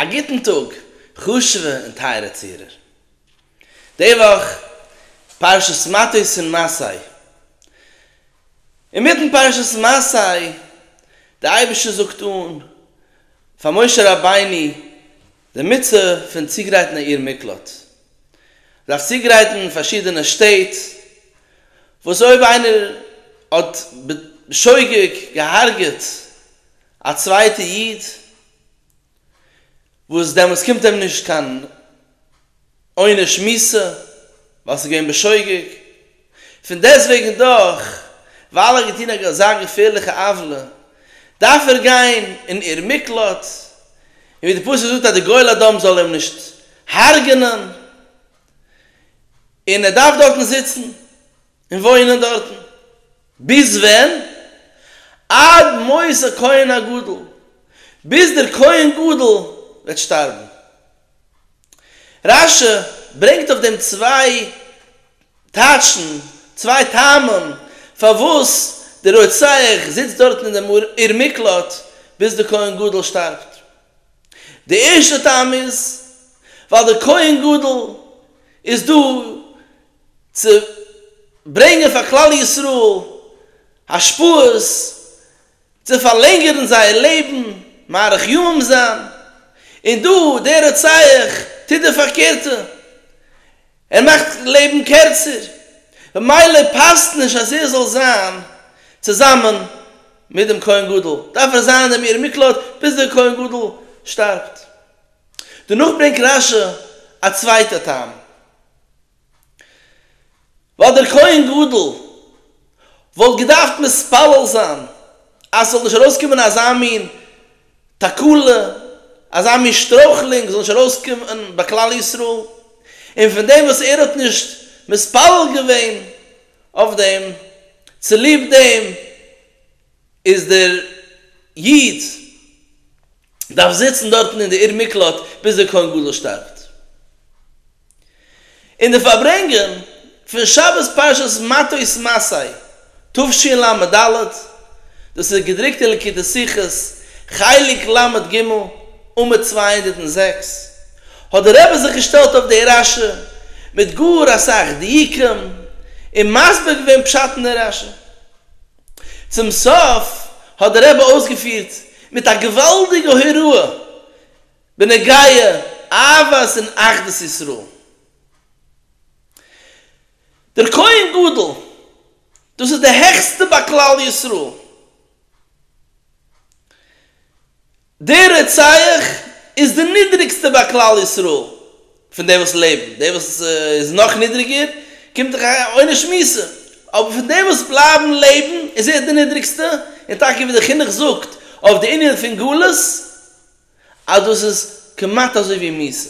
א גוטן טאג חשוב'ע און טייערע צוהערער. די וואך פרשת מטות און מסעי. אינמיטן פרשת מסעי, דער אייבערשטער זאגט אן פאר משה רבינו די מצוה פון צוגרייטן א עיר מקלט. מ'דארף צוגרייטן פארשידענע שטעט וואס אויב איינער האט בשוגג געהארגעט א צווייטע איד, וואס דעמאלטס קומט אים נישט קיין עונש מוסר ווייל עס איז געווען בשוגג, פון דעסטוועגן דאך ווייל ער האט געטון אזא געפערליכע עוולה דארף ער גיין אין עיר מקלט, און ווי די פסוק זאגט אז די גואל אדום זאל אים נישט הרג'נען, און ער דארף דארטן זיצן און וואוינען דארטן. ביז ווען? עד מות הכהן הגדול, ביז דער כהן גדול וועט שטארבן. רשי ברענגט אויף דעם צוויי טייטשן, צוויי טעמים, פארוואס דער רוצח זיצט דארטן אין דעם עיר מקלט ביז דער כהן גדול שטארבט. דער ערשטער טעם איז, ווייל דער כהן גדול איז דא צו ברענגען פאר כלל ישראל השפעות, צו פארלענגערן זייער לעבן, מאריך ימים זיין, און דא דער רוצח טוט די פארקערטע, ער מאכט לעבן קערצער, במילא פאסט נישט אז ער זאל זיין צוזאמען מיט דעם כהן גדול, דארף ער זיין אין דעם עיר מקלט ביז דער כהן גדול שטארבט. דערנאך ברענגט רש י א צווייטע טעם, ווייל דער כהן גדול וואלט געדארפט מתפלל זיין אז ס'זאל נישט ארויסקומען אזא מין תקלה, אזא מין שטרויכלונג זאל נישט ארויסקומען ביי כלל ישראל, און פון דעם וואס ער האט נישט מתפלל געווען אויף דעם, צוליב דעם איז דער איד דארף זיצן דארטן אין די עיר מקלט ביז דער כהן גדול שטארבט. אין די פארברענגען פון שבת פרשת מטות מסעי תשי ל, דאס איז געדרוקט אין לקוטי שיחות חלק ל ג עמוד צוויי הונדערט און זעקס, האט דער רבי זיך געשטעלט אויף די רשי מיט גאר אסאך דיוקים און מסביר געווען פשט אין די רשי. צום סוף האט דער רבי אויסגעפירט מיט א געוואלדיגע הוראה בנוגע אהבת און אחדות ישראל. דער כהן גדול, דאס איז די העכסטע ביי כלל ישראל. דער רוצח איז די נידריגסטע ביי כלל ישראל, פון די וואס לעבן, די וואס איז נאך נידריגער קומט דאך א עונש מוסר, אבער פון די וואס בלייבן לעבן איז ער די נידריגסטע, און טאקע ווי דער חינוך זאגט אויף די ענין פון גלות אז דאס איז כמעט אזוי ווי מוסר,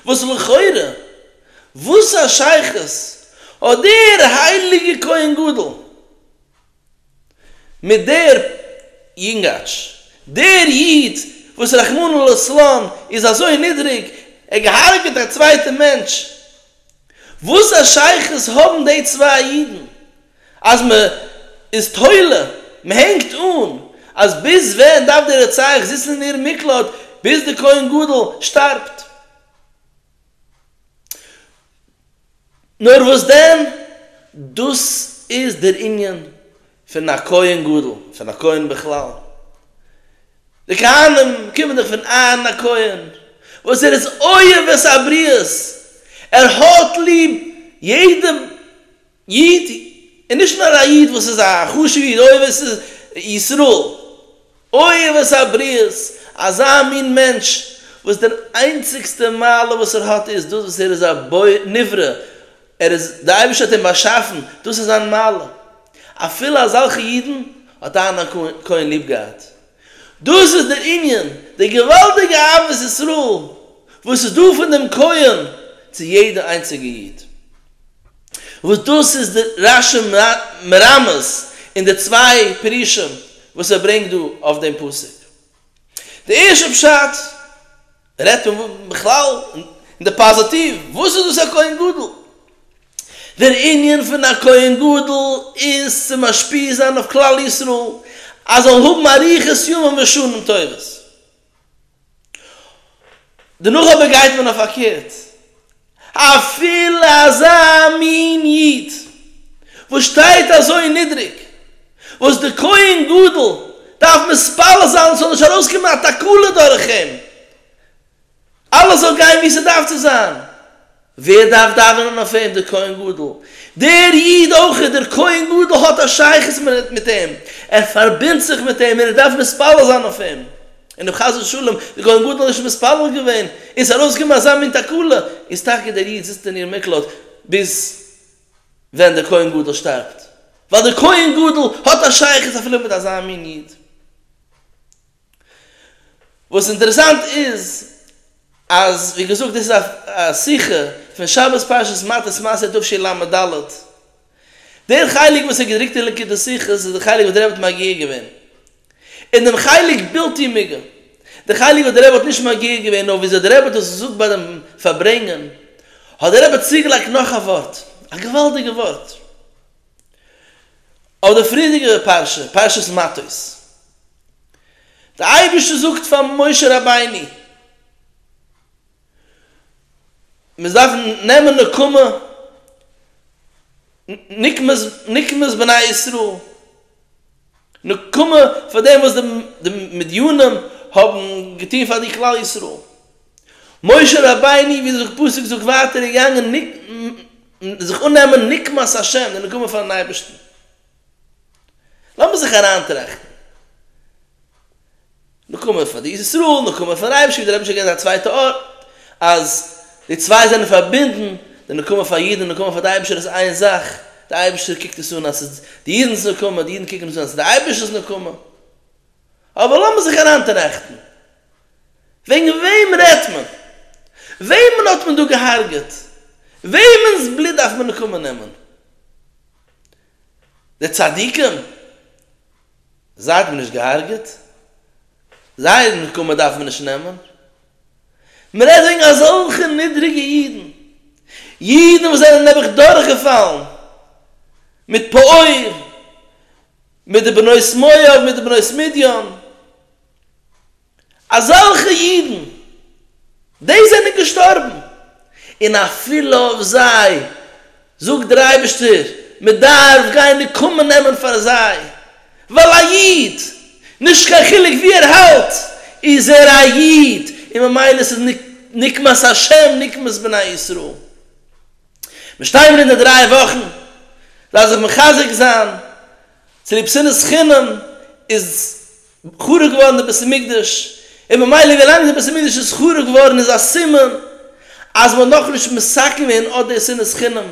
וואס לכאורה וואס א שייכות האט דער הייליגער כהן גדול מיט דער יונגאטש, דער איד וואס רחמנא לצלן איז אזוי נידריג, ער געהארגעט א צווייטע מענטש, וואס א שייכות האבן די צוויי אידן, אז מען איז תולה, מען הענגט אן, אז ביז ווען דארף דער רוצח זיצן אין איר מקלט ביז די כהן גדול שטארבט? נאר וואס דען, דאס איז דער ענין פון א כהן גדול, פון א כהן בכלל. די כהנים קומען דאך פון אהרן הכהן, וואס ער איז אוהב את הבריות, ער האט ליב יעדע איד, און נישט נאר א איד וואס איז א חשוב איד, אוהבת ישראל, אוהבת הבריות, אזא מין מענטש וואס דער איינציגסטע מעלה וואס ער האט איז דאס וואס ער איז א נברא, ער איז, די אייבערשטער האט אים באשאפן, דאס איז זיין מעלה, אפילו אזעלכע אידן האט אהרן הכהן ליב געהאט, דאס איז דער ענין, די געוואלדיגע אהבת ישראל וואס איז דא פון דעם כהן צו יעדע איינציגע איד. וואס דאס איז די רשי מרמז אין די צוויי פירושים וואס ער ברענגט דא אויף דעם פסוק. די ערשטע פשט רעדט פון בכלל אין די פאזיטיוו, וואס איז דאס א כהן גדול? דער ענין פון א כהן גדול איז צו משפיע זיין אויף כלל ישראל אז זאל האבן אריכות ימים ושנים טובות. דערנאך אבער גייט מען אויף פארקערט, אפילו אזא מין איד וואס שטייט אזוי נידריג, וואס די כהן גדול דארף מתפלל זיין ס'זאל נישט ארויסקומען א תקלה דורך אים, אלעס זאל גיין ווי ס'דארף צו זיין, ווער דארף דאווענען אויף אים? דער כהן גדול. דער איד אויך איז דער כהן גדול האט א שייכות מיט אים, ער פארבינדט זיך מיט אים און ער דארף מתפלל זיין אויף אים. און אויב חס ושלום דער כהן גדול איז נישט מתפלל געווען און עס איז ארויסגעקומען אזא מין תקלה, איז טאקע דער איד זיצט אין איר מקלט ביז ווען דער כהן גדול שטארבט, ווייל דער כהן גדול האט א שייכות אפילו מיט אזא מין איד. וואס אינטערעסאנט איז אז ווי געזאגט דאס איז א שיחה פון שבת פרשת מטות מס' תשי ל עמוד ד', דער חלק וואס איז געדרוקט אין ליקוטי שיחות איז דער חלק וואס דער רבי האט מגיה געווען, און דעם חלק בלתי מיגע, די חלק וואס דער רבי האט נישט מגיה געווען נאר וויאזוי דער רבי האט עס געזאגט ביי דעם פארברענגען, האט דער רבי צוגעלייגט נאך א ווארט, א געוואלדיגע ווארט, אויף די פריערדיגע פרשה, פרשת מטות. דער אייבערשטער זאגט פאר משה רבינו, מיר דארפן נעמען נקמה, נקמות, נקמות בני ישראל, נקמה פאר דעם וואס די מדיינים האבן געטון פאר די כלל ישראל, משה רבינו ווי דער פסוק זאגט ווייטער איז געגאנגען זיך אננעמען נקמת ה', די נקמה פארן אייבערשטן. לאמיר זיך אריינטראכטן. נקמה פאר די ארץ ישראל, נקמה פאר רייבער שליט א, רבי שליט א געט א צווייטע ארט אז די צוויי זענען פארבינדן, די נקמה פאר אידן און נקמה פאר די אייבערשטער איז איין זאך, די אייבערשטער קוקט עס אן אז ס'איז די אידן'ס נקמה, די אידן קוקן עס אן אז ס'איז די אייבערשטער'ס נקמה. אבער לאמיר זיך אריינטראכטן. וועגן וועם רעדט מען? וועמען האט מען דא געהארגעט? וועמענ'ס בלוט דארף מען נקמה נעמען? די צדיקים זייט מיר נישט געהארגעט, זייער נקמה דארף מען נישט נעמען, מען רעדט וועגן אזעלכע נידריגע אידן, אידן וואס זענען נעבעך דורכגעפאלן מיט פאעור, מיט די בנות מואב, מיט די בנות מדין. אזעלכע אידן, די זענען געשטארבן, און אפילו אויף זיי זאגט דער אייבערשטער, מען דארף גיין נקמה נעמען פאר זיי, ווייל א איד, נישט קיין חילוק ווי ער האלט, איז ער א איד, און ממילא איז עס נקמת השם, נקמת בני ישראל. מיר שטיין מיר אין די דריי וואכן, זיי זיך מחזק זיין, צוליב שנאת חינם איז חרוב געווארן די בית המקדש, און ממילא ווילאנג די בית המקדש איז חרוב געווארן איז א סימן אז מ'האט נאכנישט מסכם געווען אט די שנאת חינם,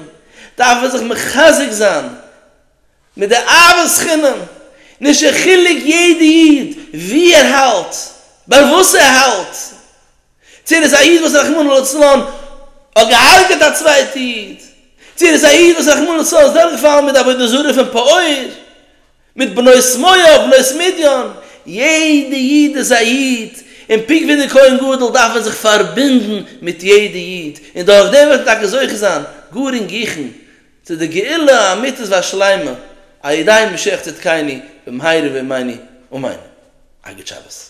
דארף מען זיך מחזק זיין מיט די אהבת חינם, נישט א חילוק יעדע איד ווי ער האלט, ביי וואס ער האלט, צו ער איז א איד וואס רחמנא לצלן האט געהארגעט א צווייטע איד, צו ער איז א איד וואס רחמנא לצלן איז דורכגעפאלן מיט די עבודה זרה פון פאוער, מיט בנות מואב בנות מדיין, יעדע איד איז א איד, און פונקט ווי דער כהן גדול דארף ער זיך פארבינדן מיט יעדע איד, און דורך דעם וועט ער טאקע זוכה זיין גאר אינגיכן צו די גאולה האמיתית והשלימה על ידי משיח צדקינו במהרה בימינו אמן. א גוט שבת.